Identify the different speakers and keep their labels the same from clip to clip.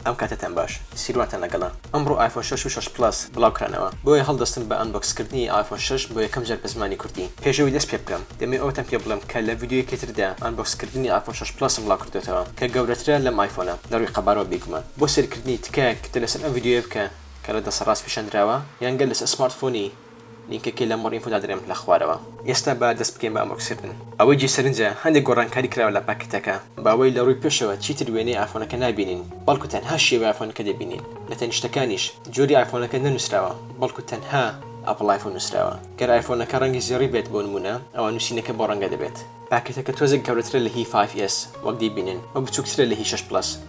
Speaker 1: ئەم کاتەتان باش سیروانتان لەگەڵە. ئەمڕۆ ئایفۆن شەش و شەش پڵەس بڵاو کرانەوە بۆیە هەڵدەستم بە ئەنبۆکس کردنی ئایفۆن شەش بۆ یەکەم جار بە زمانی کوردی پێش ئەوەی دەست پێ بکەم دەمەوێ ئەوەتان پێ بڵێم کە لە ڤیدیۆیەکی تردا ئەنبۆکس کردنی ئایفۆن شەش پڵەسم بڵاو کردۆتەوە کە گەورەترە لەم ئایفۆنە لە ڕووی قەبارەوە بێگومان بۆ سێرکردنی تکایە کتە لەسەر ئەم ڤیدیۆیە بکە کە لە دەسەڕاست پیشان دراوە یان گەر لەسەر سمارت فۆنی لینکەکەی لەم ڕینفۆ دادەنێم لە خوارەوە. ئێستا با دەست بکەین بە ئەمۆکسکردن. ئەوەی جێ سەرنجە هەندێک گۆڕانکاری کراوە لە پاکتەکە. باوەی لە ڕووی پێشەوە چیتر وێنەی ئایفۆنەکە نابینین بەڵکو تەنها شێوەی ئایفۆنەکە دەبینین. لە تەنیشتەکانیش جۆری ئایفۆنەکە نەنوسراوە بەڵکو تەنها Apple iPhone نوسراوە. گەر ئایفۆنەکە ڕەنگی زێڕی بێت بۆ نمونە ئەوا نوسینەکە بەو ڕەنگە دەبێت. پاکێتەکە تۆزێک گەورەترە لە هی فایڤ ئێس وەک دەیبینن و بچوکترە لە هی شەش پڵەس.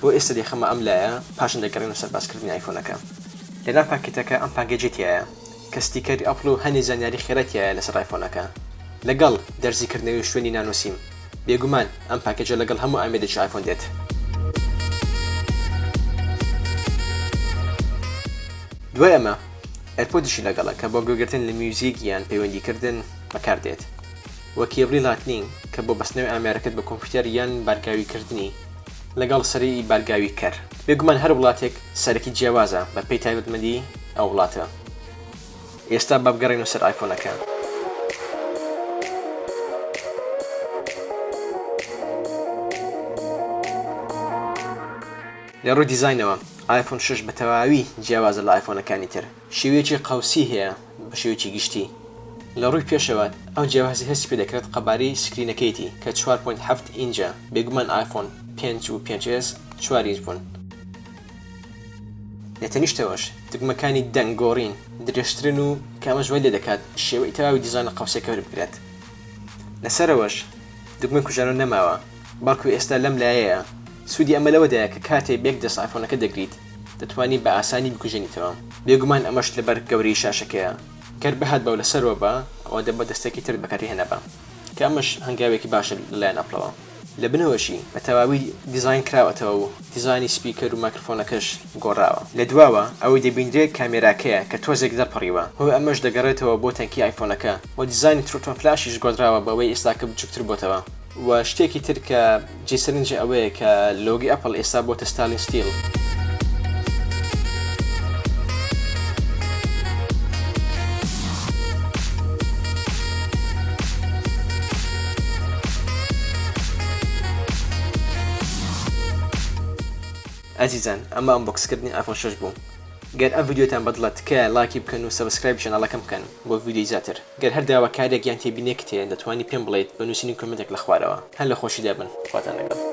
Speaker 1: بۆ ئێستا دەیخەمە ئەم لایە پاشان دەگەڕێمە سەر باسکردنی ئایفۆنەکە. لەناو پاکێتەکە ئەم پاکێجەی تیایە کە ستیکەری ئەپڵ و هەندێ زانیاری خێرای تیایە لەسەر ئایفۆنەکە لەگەڵ دەرزی کردنەوەی شوێنی نانۆ سیم. بێگومان ئەم پاکێجە لەگەڵ هەموو ئامێرێکی ئایفۆن دێت. دوای ئەمە ئێرپۆدیشی لەگەڵە کە بۆ گوێگرتن لە میوزیک یان پەیوەندیکردن بەکاردێت و کێبڵی لاتنینگ کە بۆ بەستنەوەی ئامێرەکەت بە کۆمپیوتەر یان بارگاویکردنی. لەگەڵ سەرەی بارگاوی کەر. بێگومان هەر وڵاتێک سەرەکی جیاوازە بە پێی تایبەتمەندی ئەو وڵاتە. ئێستا با بگەڕێینەوە سەر ئایفۆنەکە. لە ڕووی دیزاینەوە ئایفۆن شەش بە تەواوی جیاوازە لە ئایفۆنەکانی تر. شێوەیەکی قەوسی هەیە. بە شێوەیەکی گشتی لە ڕووی پێشەوە ئەو جیاوازی هەستی پێ دەکرێت قەبارەی سکرینەکەیەتی کە چوار پۆینت حەفت ئینجە بێگومان ئایفۆن پێنج و پێنج ئێس چوار ئینج بوون. لە تەنیشتەوەش دگمەکانی دەنگ گۆڕین درێژترن و کە ئەمەش وای لێ دەکات شێوەی تەواوی دیزاین لە قەوسێکە وربگرێت. لە سەرەوەش دگمەی کوژانەوە نەماوە. بەڵکو ئێستا لەم لایەیە. سوودی ئەمە لەوەدایە کە کاتێ بەیەک دەست ئایفۆنەکە دەگریت، دەتوانی بە ئاسانی بکوژێنیتەوە. بێگومان ئەمەش لەبەر گەورەیی شاشەکەیە. گەر بهات بەو لەسەرەوە با، ئەوا دەبە دەستەکی ترت بەکاری هێنابا. کە ئەمەش هەنگاوێکی باشە لەلایەن ئەپڵەوە. لە بنەوەشی بە تەواوی دیزاین کراوەتەوە و دیزاینی سپیکەر و مایکرفۆنەکەش گۆڕاوە. لە دواوە ئەوەی دەبینرێ کامێراکەیە کە تۆزێک دەرپەڕیوە. هۆی ئەمەش دەگەڕێتەوە بۆ تەنکی ئایفۆنەکە و دیزاینی تروتۆن فلاشیش گۆدراوە بەوەی ئێستاکە بچووکتر بۆتەوە. و شتێکی تر کە جێی سەرنجە ئەوەیە کە لۆگۆی ئەپڵ ئێستا بۆتە ستالین ستیل. ئەزیزان ئەمە ئەنبۆکسکردنی ئایفۆن شەش بوو گەر ئەم ڤیدیۆتان بەدڵە تکایە ڵایکی بکەن و سەبسکرایبی چەناڵەکەم بکەن بۆ ڤیدیۆی زیاتر گەر هەر داواکاریەک یان تێبینیەکت هەیە دەتوانی پێم بڵێیت بە نوسینی کۆمێنتێک لە خوارەوە. هەر لە خۆشیدا بن. خواتان لەگەڵ.